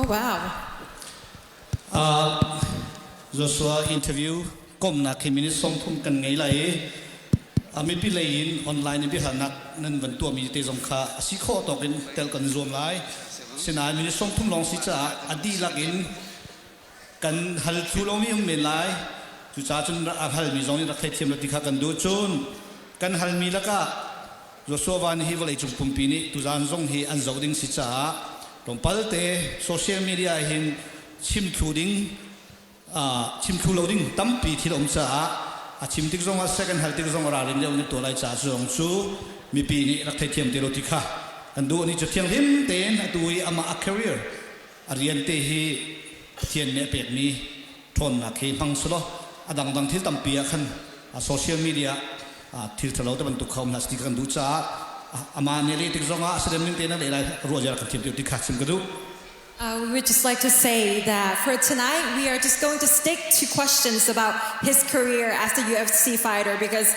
Oh wow. Uh, Joshua interview komnak hi minute song thum kan ngei lai i a mipi lei in online in biahalnak nan van tuahmi te zong kha a si khawh tawk in tel kan zuam lai sinain minute song thum long si caah a dihlak in kan hal tu lawng nih um men lai cucaah cun a halmi zong nih rak theithiam la ti kha kan duh cun kan halmi lakah Joshua Van hi vawleicung pumpi nih tuzaan zong hi an zoh ding si caah tlawmpal te social media hin chimthlu ding chimthlu lo ding tampi thil um caah a chim tik zong ah second hal tik zong a ralrin deuh in tuah lai caah zong cu mipi nih rak theithiam te lo ti kha kan duh ni cu thianghlim tein atu i amah a career A rian te hi Pathian nih a pekmi ṭhawnnak hi hmang sulaw a dangdang thil tampi ah khan social media ah thil ṭhalo te bantuk kha um hlah ti kan duh caah amah nih a leh tik zongah a si ning tein a leh lai ruah ziar kan thiam ti kha chim ka duh. Uh, we would just like to say that for tonight, we are just going to stick to questions about his career as a UFC fighter because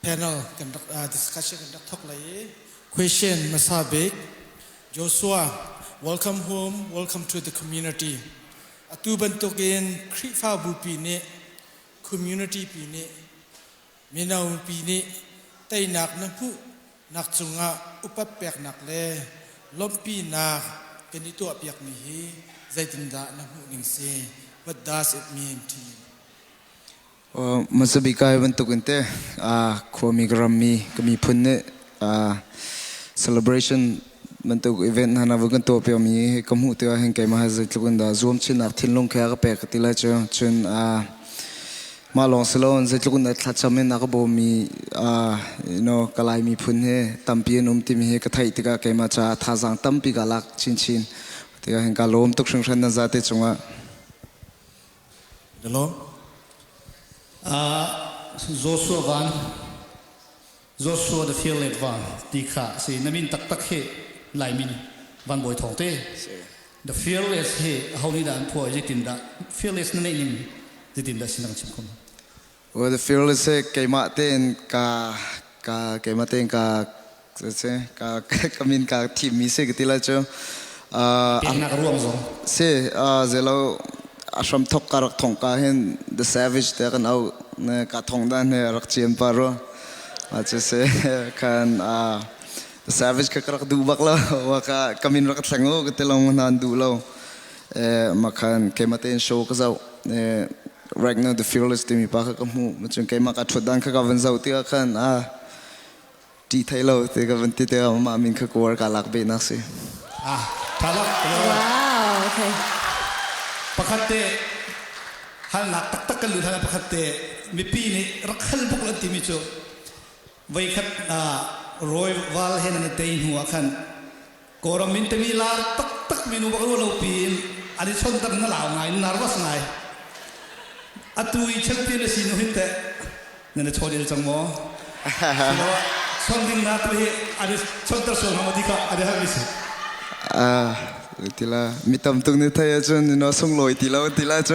panel kan rak uh, discussion kan rak thok lai question masa bek Joshua welcome home welcome to the community atu bantuk in Khrihfabu pi nih community pi nih mino pi nih teinak na hmuh nak cungah upat peknak le lawmhpi nak kan i tuah piak mi hi zeitindah na hmuh ning si what does it mean to you Mazabika bantukin te khuami ka rammi ka miphun nih celebration bantuk event hna na vu kan tuah piakmi hi ka hmuh tikah hin keimah zeitluk in dah zuamchinnak thinlung khe a ka pek ka ti lai cu cun mah lawng si lo zeitluk in thlacham in a ka bawmmi you know kalai miphun hi tampi an um timi hi ka theih tikah keimah caah thazaang tampi ka lak chinchin tikah hin ka lawm tuk hringhran na zate cungah Joshua van, Joshua the Fearlet van ti kha si na min taktak hi lai min van bawi thawng te the fearless hi ho nih dah an phuah zitin dah fearless na neih nim zitin dah sinang chim khum Well, the fear let's say keimah tein ka ka keimah tein ka se ka ka min ka thim mi si ka ti la chu uh Peknak ruang zong si uh zelo ashram thok ka rak thong ka hin the savage te kan au ne ka thong da ne rak chiem pa ro a che se kan uh savage ka rak du bak lo wa ka kamin rak thleng lo ka te long nan du lo eh makhan keimah tein show ka zau eh Ragnar the Fearless timi pa kha ka hmuh macun keimah ka ṭhut dan kha ka van zoh tikah khan a ṭih thai lo ti ka van ti tikah mah min kha kuar ka lak beh nak si ah thalak wow okay pakhat te halnak taktak kan lut hal pakhat te mipi nih rak hal buk an timi cu veikhat rawi val he nan tei hnu ah khan Kawlram min timi lar taktak minu bak ruah lo piin an i chon tak na lau ngai nervous ngai atu i chel ti na si nu hin teh na na chol il cang maw chon ding na tu hi an i chon ter sual hama di ka an i har ni si ah tila mi tam tuk ni thai cun no sung loi tilo tila cu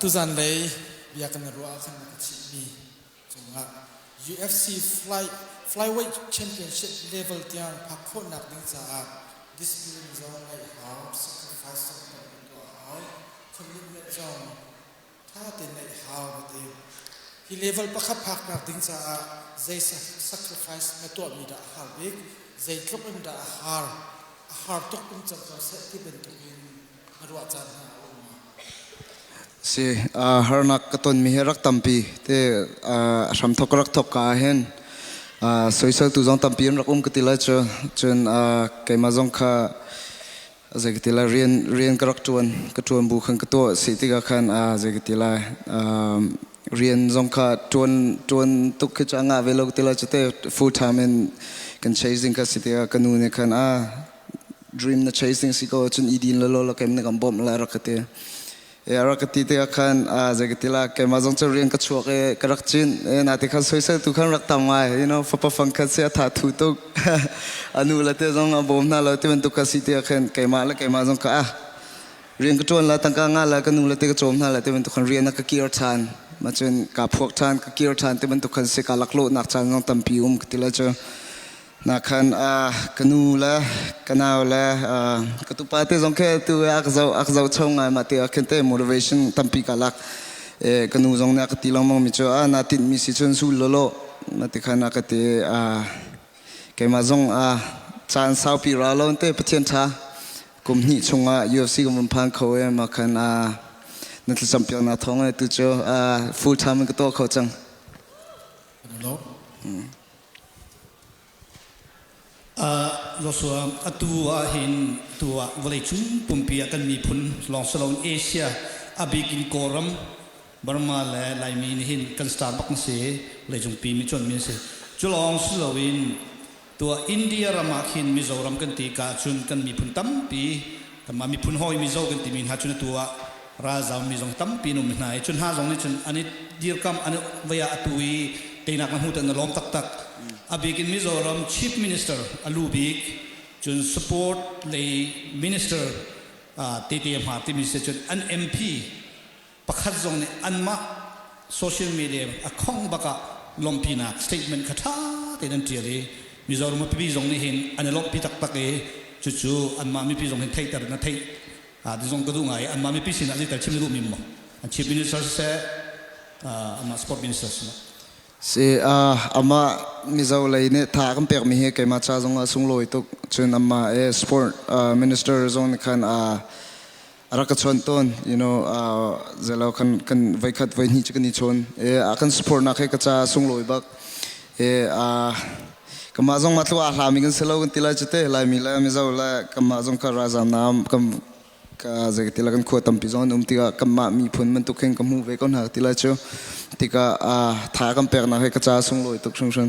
Tuzan lei biakinn ruah kan rak chimmi cungah UFC fly, flyweight championship level tiang phak khawhnak ding caah discipline zong ngeih a hau, sacrifice zong kan tuah a hau, commitment zong ṭha tein ngeih a hau ka ti. Hi level pakhat phaknak ding caah zei sacrifice na tuahmi dah a har bik, zeitluk in dah a har, a har tuk in cang ko seh ti bantukin Si harnak ka tonmi hi rak tampi te hramthok rak thok ka hin soisel tu zong tampi an rak um ka ti la cu cun keimah zong kha zei ka ti la rian rian ka rak tuan ka tuan bu khan ka to si tiga khan zei ka ti la rian zong kha ṭuan ṭuan tuk khi cu a ngah ve lo ti lo cu te full time in kan chasing kha si tiah ka nu nih khan a dream na chasing si ko cun i din lo lo kem na kan bawm la rak ka ti ya rak ka ti te khan a zai ka ti la ke ma zong chu rian ka chuak e ka rak chin e na te khan soi sai tu khan rak tam ngai you know fa pa fang khan se atha thu tuk anu la te zong a bawm na lo ti ban tuk ka si te khan ke ma la ke ma zong ka a rian ka ṭuan la tangka nga la ka nu le te ka cawm hna la ti bantuk khan rian a ka kir ṭhan ma cun ka phuak ṭhan ka kir ṭhan ti bantuk khan si ka laklawhnak caan zong tampi um ka ti la cu na khan ka nu le ka nau le ka tupa te zong khe tu ak zo ak zo chho ngai ma te khen te motivation tampi ka lak ka nu zong ne ka ti longmang mi chu a na tin mi si chun sul lo lo ma ti khan ka ti keima zong chan saupi ra lo te pathian tha Kum hnih chungah UFC kan vun phan kho ee mah khan ah na thlacam piak na thawng ee tu cu full time in ka tuah kho cang. Joshua atu ah hin tu ah vawleicung pumpi ah kan miphun lawng si loin Asia a bikin Kawlram Burma le Laimi nih hin kan star bak na si leicungpi mi cuan mi a si. Cu lawng si loin tuah India ram ah khin Mizoram kan ti ka ahcun kan miphun tampi kanmah miphun hawi Mizo kan timi hna cu atu ah ralzam mi zong tampi an um hna i cu hna zong nih cun an i dirkamh an vei ah atu i teinak na hmuh tiah na lawm taktak a bik in Mizoram Chief Minister a lu bik cun support lei minister tete hma timi si cun an MP pakhat zong nih anmah social media a khawngh bak ah lawmhpinak statement kha ṭha tein an ṭial i Mizoram mipi zong nih hin an i lawmhpi taktak i cucu anmah mipi zong hin theihter in a theih ah ti zong ka duh ngai anmah mipi sinah zeital chim na duhmi maw an chief minister siseh uh, anmah sport minister sinah si uh, amah mizo lei nih tha kan pekmi hi keimah cha zong ah sunglawi tuk cun amma e sport uh, minister zong khan a uh, rak ka chuan ton you know uh, zelo kan kan vai khat vai ni chu kan ni chon e a kan support na khe ka cha sung loi bak e a kama zong ma tlu a hla mi kan selo kan tila chu te lai mi la mi zo la kama zong ka ra zam nam kam ka ze tila kan khuwa tampi zon um tika kama mi phun man tu khen ka mu ve kon ha tila chu tika a tha kam pek na khe ka cha sung loi tuk chung sun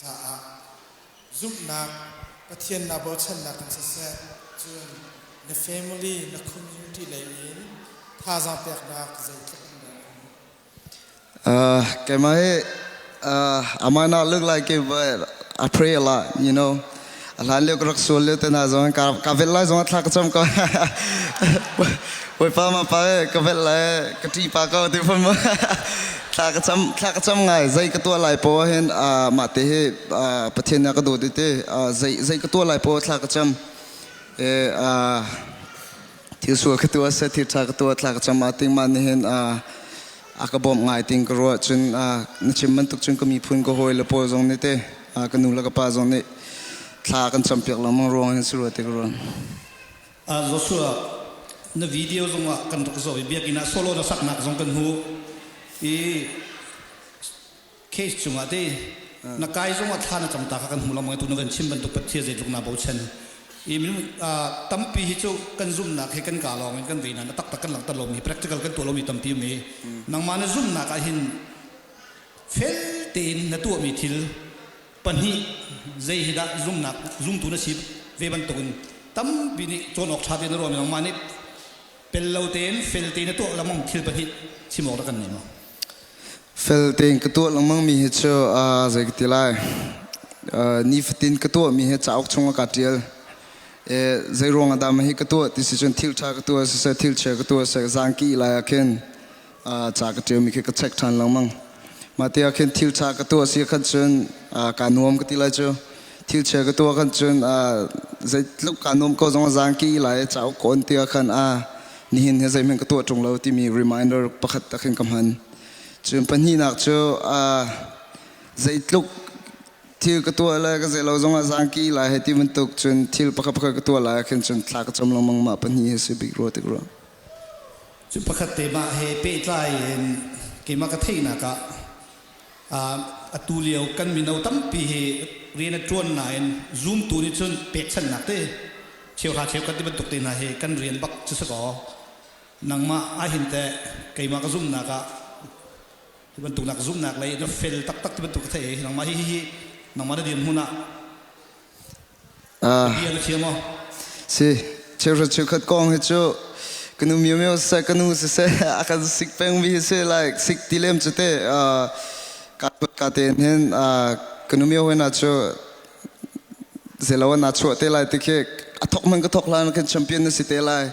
caah zumhnak Pathian naa bochannak in siseh, cun na family, na community lei in thazaang peknak zeitluk in dah a uh, Kemai uh, amana look like if I pray a lot, you know. A hlan lio ka rak sual lio te hna zong ka ka velh lai zong a thla ka cam ko. Bawipa ma pa e ka velh lai ka ṭi pa ko ti fun mu. Thla ka cam thla ka cam ngai zei ka tuah lai po hin mah te hi Pathian ya ka do ti te zei zei ka tuah lai po thla ka cam e thil sual ka tuah se thil tha ka tuah thla ka cham a ting ma ni hen a a ka bom ngai ting ka ruah cun a na chim bantuk cun ka miphun ka hawi le pawl zong nih te a ka nu le ka pa zong nih thla kan cham piak lamang ruang in suru te ka ruan a Joshua na video zong ah kan rak zo i biakin ah solo na saknak zong kan hu i case cungah te na kai zongah thla na cam ta kha kan hmu lomang tu na kan chim bantuk pathian zeitluk na bochan i minung tampi hi cu kan zumnak hi kan ka lawng in kan veina na taktak kan langhter lomi practical kan tuah lomi tampi mi nangmah na zumnak ah hin fel tein na tuahmi thil pahnih zei hi dah zumnak zumtu na si ve bantukin tampi nih cawn awk ṭha te na ruahmi nangmah nih Pel lo tein fel tein a tuah lengmang thil pahnih chim awk rak kan neem. Fel tein ka tuah lengmang mi hi cu zei ka ti lai nifatin ka tuah mi hi cauk chung ka tial zei ruang ah dah ma hi ka tuah ti si cun thil tha ka tuah si se thil che ka tuah se zang ki lai ah khin ca ka ṭialmi khi ka check ṭhan lengmang mah te ah khin thil ṭha ka tuah si khan cun kaa nuam ka ti lai cu thil chia ka tuah khan cun zei tluk kaa nuam ko zong a zang ki lai cauk kawn ti ah khan a nihin hi zeihmanh ka tuah ṭung lo timi reminder pakhat ta khin ka hman cun pahnihnak cu zeitluk thil ka tuah lai ka zei lo zong ah zang ki lai he ti bantuk cun thil pakhat pakhat ka tuah lai khin cun thla ka cam lengmang mah pahnih hi si bik rua tik rua Cu pakhat te mah he pehtlai in keimah ka theihnak ah atu lio kan mino tampi hi rian a ṭuan nain zumtu nih cun pekchanhnak te cheuhra cheu kan ti bantuk te hna hi kan rian bak cu si kaw nangmah ahhin teh keimah ka zumhnak ah hi bantuk nak zumhnak lei na fel taktak ti bantuk ka theih i nangmah hihi nangmah na dirhmun ah Cheuhra cheukhat kong hi cu ka nu miomio siseh ka nu siseh a kan sik pengmi a si like sik ti lem cu te ka te hnen ka nu mio hena cu zeilo na chuah te lai ti khi a thok man ka thok hlan kan champion na si te lai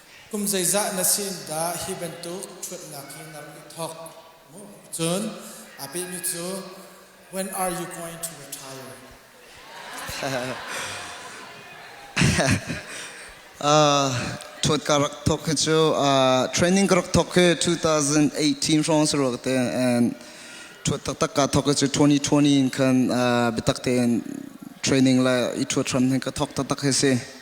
Kum zeizah na si in dah hi bantuk ṭhuatnak hi na rak i thawk? Cun aa pehmi cu When are you going to retire? Ṭhuat ka rak thawk hi cu training ka rak thawk hi 2018 hrawng si rawk te and ṭhuat taktak ka thawk hi cu 2020 in khan biatak tein training le i ṭhuat hram hi ka thawk taktak hi si.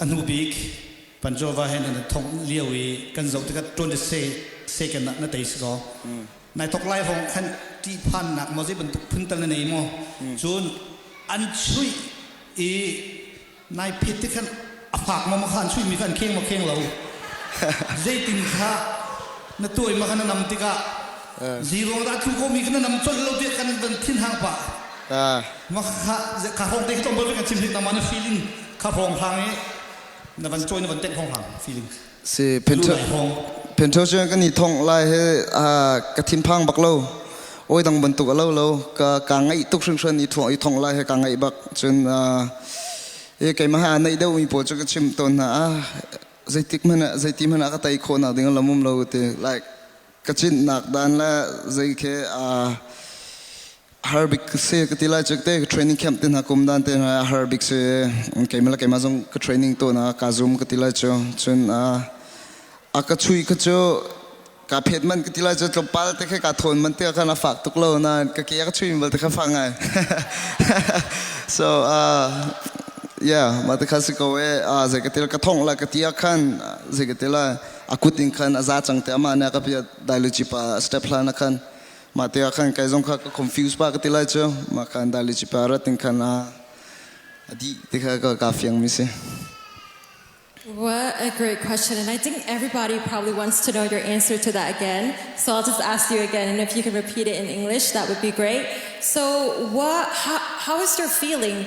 A hnu bik Panjova he nan thong lio i kan zoh tikah tuan le second ah na tei si kaw nai thok lai hong khan ṭih phannak maw zei bantuk phun tal na nei maw cun an chuih i nai phet te khan a fak maw khan chuih mi kha an kheng maw kheng lo zeitin kha na tuai ma kha na nam tikah Zero dah thu ko mi kan nam colh lo tiah kan dan thin hang pa. Ma kha kha hong te tom ba kan chim hik na man feeling kha hong hang e na van join na van tek hong hang feeling. Si pencho pencho sure kan i thong lai he ka thin phang bak lo. Oi dang bantuk lo lo ka ka ngai tuk hring hran i thong i thong lai he ka ngai bak chun e kai ma ha nai deu mi po chu ka chim ton na zeitik mana zeitim mana ka tai kho na ding lamum lo te like ka cinnak dan le zei ke a har bik se ka ti lai chu te ka training camp te hna kum dan te hna a har bik se keimah keimah zong ka training to na ka zoom ka ti lai chu cun a ka chui ka chu ka phet man ka ti lai chu tlawmpal te khe ka thon man te ka na fak tuk lo na ka ke ka chui bal te kha fa ngai so uh yeah ma te kha si ko e uh zai ka til ka thong la ka ti khan zai ka til a kut in khan a za cang te amah nih ka piah dailici pa step hla na khan mah te ah khan kai zong kha ka confuse pa ka ti lai cu mah khan dailici pa rat in khan a a di ti kha ka ka fiang mi si What a great question. And I think everybody probably wants to know your answer to that again. So I'll just ask you again. And if you can repeat it in English, that would be great. So, what, how, how is your feeling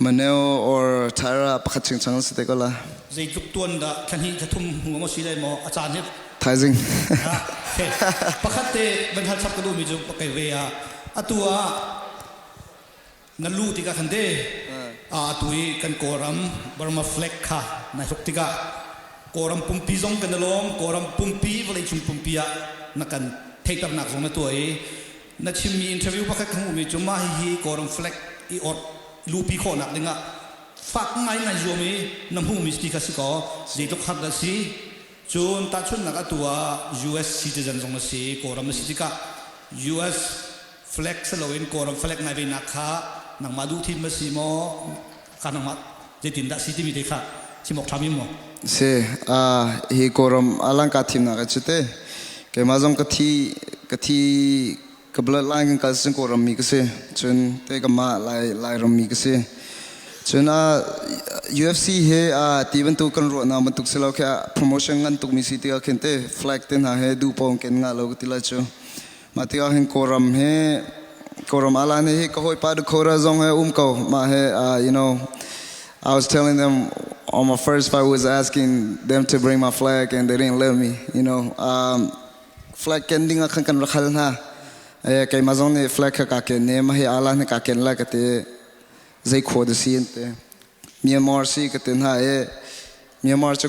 Maneo or Thaira pakhat chingchang si te ko la. Zeitluk tuan dah thlahnih thlathum ngong a si lai maw a caan hi. Thaizing. Pakhat te van hal chap ka duh mi cu pakai ve a atu a na lu tika khan de a atu i kan kawram Burma flag kha na hruk tika kawram pumpi zong kan lawm kawram pumpi vawlei cung pumpi ah na kan theiter nak zong na tua i Na chimmi interview pakhat ka hmuhmi cu mah hihi Kawlram flag i awrh luhpi khawhnak dingah fak ngaingai zuam i na hmuhmi ti kha si kaw zeitluk har dah si. Cun tahchunhnak atu ah US citizen zong na si, Kawlram na si tikah US flag si loin Kawlram flag ngai venak kha nangmah duhthim na si maw? ka nangmah zeitindah si timi te kha chim awk ṭhami maw? Si, hi kawram alangka thimnak a cu te keimah zong ka thi ka thi ka bloodline kan kal cun kawram mi ka si cun te kamah lai lairam mi ka si cun UFC he ti bantuk kan ruahnak bantuk si lo khi promotion ngan tuk mi si ti khin te flag te hna he du pawng ken nga lo ti la cu Mah tikah hin Kawlram he Kawlram alane hi ka hawipa de Kora zong he um ko mah he uh, you know I was telling them on my first fight was asking them to bring my flag and they didn't let me you know um, flag ken ding khan kan rakhal na e kai ma zong ne flag ka ka ken ne ma hi ala ne ka ken la ka te zai kho de si ente Myanmar si ka te na e Myanmar chu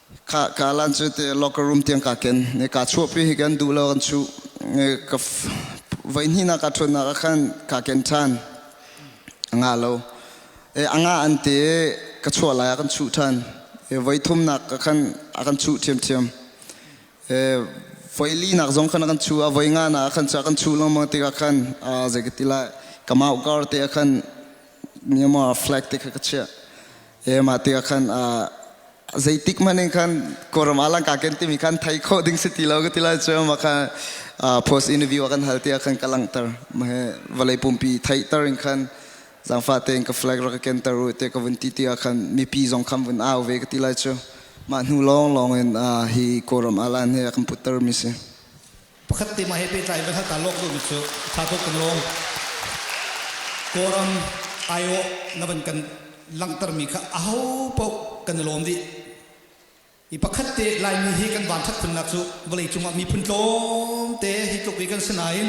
ka ka lan chu te locker room tiang ka ken ne ka chuo pi hi kan du lo kan chu ne ka vai ni na ka thun na ka khan ka ken than nga lo e anga an te ka chuo la ya kan chu than e vai thum nak ka khan a kan chu thiam thiam e vai li nak zong khan kan chu a vai nga na khan cha kan chu lo ma ti ka khan a ze ka ti la kamau kar te khan myanmar flag te ka ka chia He mah tikah khan zeitik hmanh in khan Kawlram alangka kan timi khan thai khawh ding si ti lo ka ti lai cu mah kha post interview a kan hal tiah khan ka langhter mah he vawlei pumpi theihter in khan zangfah tein ka flag rak ka kenter u te ka vun ti tiah khan mipi zong kham vun au ve ka ti lai cu mah hnu lawng lawng in hi Kawlram alan he a kan putter mi si. Pakhat tema he pehtlai in kan hal ta lawk duhmi cu tha tuk kan lawm. Kawlram aiawh na van kan langhtermi kha aho paoh kan i lawm dih. I pakhat te Laimi hi kan vanthat khunnak cu vawlei cungah miphun tlawmte hi tluk i kan si nain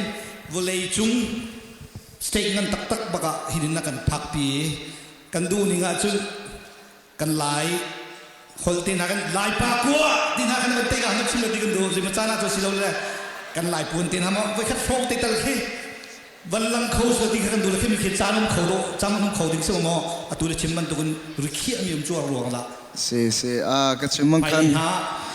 vawlei cung state ngan taktak bakah hi din a kan phakpi kan duhning ahcun kan lai holh te hna kan lai pa kua ti hna kan kan te ka hanap sim lo ti kan do zima cana cu si lo le kan lai puan te hna ma voi khat hrawng te tal khi vallang kho so ti kha kan du le khi mi khi chan um kho do cham um kho ding sim mo atu le chim man tu kun rikhi ami um chuar ruang la se se a ka chim man kan na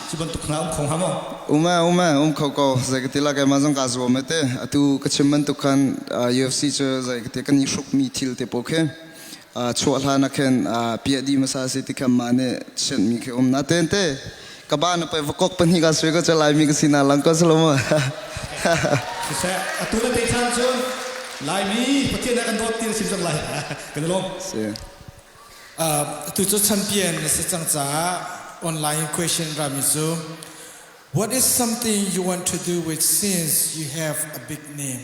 chu ban tu khna um khong ha mo uma uma um kho ko zai ka tila kai ma zang ka zuwa me te atu ka chim man tu khan UFC chu zai ka te kan i shruk mi thil te po khe chuah hlan ah khin piah di masa si ti khan ma nih sian mi khi um na ten te ka ba na pa vakok pahnih ka swe ka chalai mi ka si na lang ko salama siseh atu na te chan chu lai mi pathian kan dawt tin sim zang lai kan lom si tu chu chan pian na se chang cha online question rami chu what is something you want to do with since you have a big name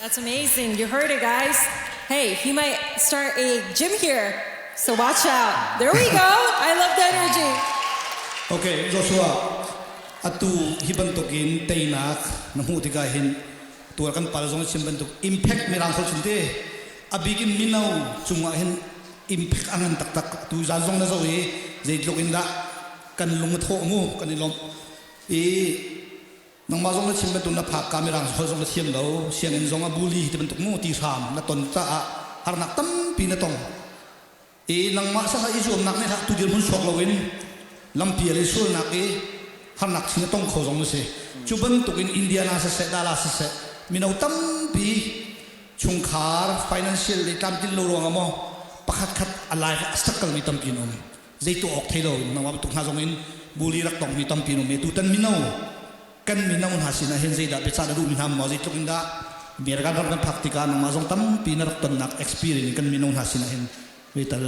That's amazing. You heard it, guys. Hey, he might start a gym here, so watch out. There we go. I love the energy. Okay, Joshua, atu hi bantukin teinak na hmuh tikah hin tuar kan pal zong chim bantuk impact mirang so chim te abik in mino cungah hin impact angan taktak tu zan zong na zo i zeitluk in dah kan lung a thaw mu kan i lom i nangmah zong na chim bantuk na phak ka mirang hol zong na thiam lo sianginn zong a buli hi bantuk mu ti hram na ton caah harnak tampi na tong i nangmah sasa i zuamnak nih hlah tu dir hmun suak loin lampi le sualnak i harnak chin na tong kho zong na si cu bantuk in indiana siseh dala siseh mino tampi chungkhar financial le tlamtlin lo ruangah maw pakhat khat a life a struggle mi tampi an um zei tuah awk thei lo in nangmah bantuk hna zong in buli rak tong mi tampi um tu tan mino kan mino hna sin ah hin zeidah biasa na duh mi hna maw zeitluk in dah biragan ram kan phak tikah nangmah zong tampi na rak tonnak experience in kan mino hna sin ah hin vital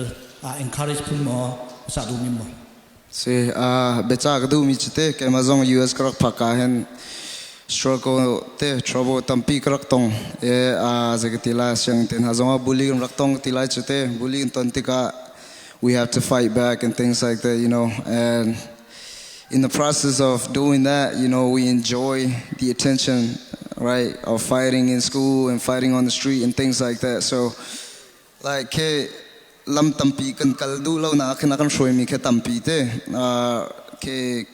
uh, encourage phun maw sa du mi maw se uh, becha ka du mi chite keima zong US ka rak phaka hen struggle te trouble tampi ka rak tong e a uh, zekati la siang te na zong a bully rak tong ti lai chute bully in ton tika we have to fight back and things like that, you know. And in the process of doing that, you know, we enjoy the attention, right, of fighting in school and fighting on the street and things like that. So, like, ke lam tampi kan kal du lo na khna kan shroi mi ke tampi te na ke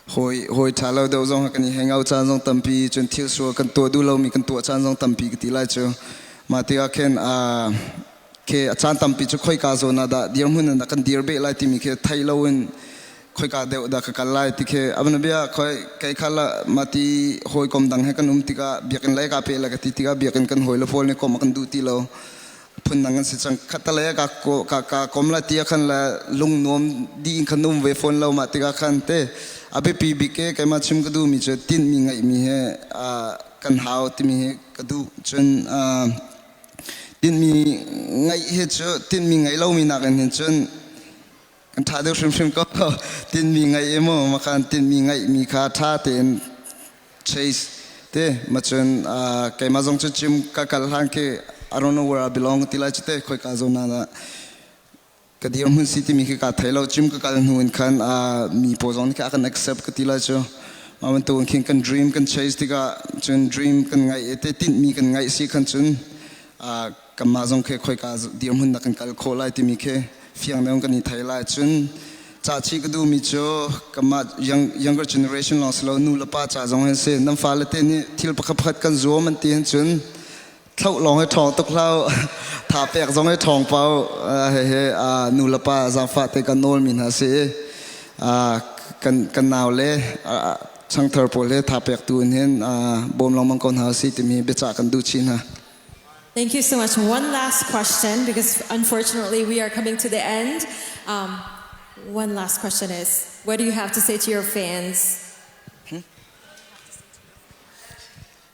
hoi hoi tha lo do zong kan i hang out chan zong tampi chun thil su kan to du lo mi kan to chan zong tampi ki ti lai chu ma ti a ken a khi a caan tampi cu khoika zawn ah dah dirhmun in dah kan dir beh lai timi khi thei lo in khoika deuh dah ka kal lai ti khi abana bia khoi kai khala mati hoi kom dang he kan um tika biakin lai ka pe la ka ti tika biakin kan hoi la pol ni kom kan du ti lo phun nang kan si chang khatale ka ka ka kom la tia khan la lung nom di in khan um ve phone lo ma tika khan te abe pi bi ke kai ma chim ka du mi chu tin mi ngai mi he kan hau ti mi he ka du chun tinhmi ngeih hi cu tinhmi ngei lomi nakin hin cun kan ṭha deuh hrimhrim ko tinhmi ngeih i maw makan tinhmi ngeihmi kha ṭha tein chase te macun keimah zong cu gym ka kal hlan khi I don't know where I belong ti lai cu te khoi ka zo na ka dirhmun si timi khi ka thei lo gym ka kal hnu in khan mi pawl zong nih I can accept ka ti lai cu mah bantukin khin kan dream kan chase tikah cun dream kan ngaih te tinhmi kan ngaih si khan cun kanmah zong khi khoi ka dirhmun nak kan kal khawh lai timi khi fiang deuh kan i thei lai cun ca chi ka duhmi cu kanmah younger generation long silo nu le pa ca zong an si nan fa le te nih thil pakhat pakhat kan zuam an ti hin cun thloh lawng hi ṭhawng tuk hlau tha pek zong hi ṭhawng pau hehe nu le pa zaangfah te kan nawl mi hna si kan kan nau le changthar pawl he tha pek tu in hin bawm lengmang ko hna si timi biacah kan duh chin hna Thank you so much. One last question because unfortunately we are coming to the end. Um, one last question is, what do you have to say to your fans? Hmm?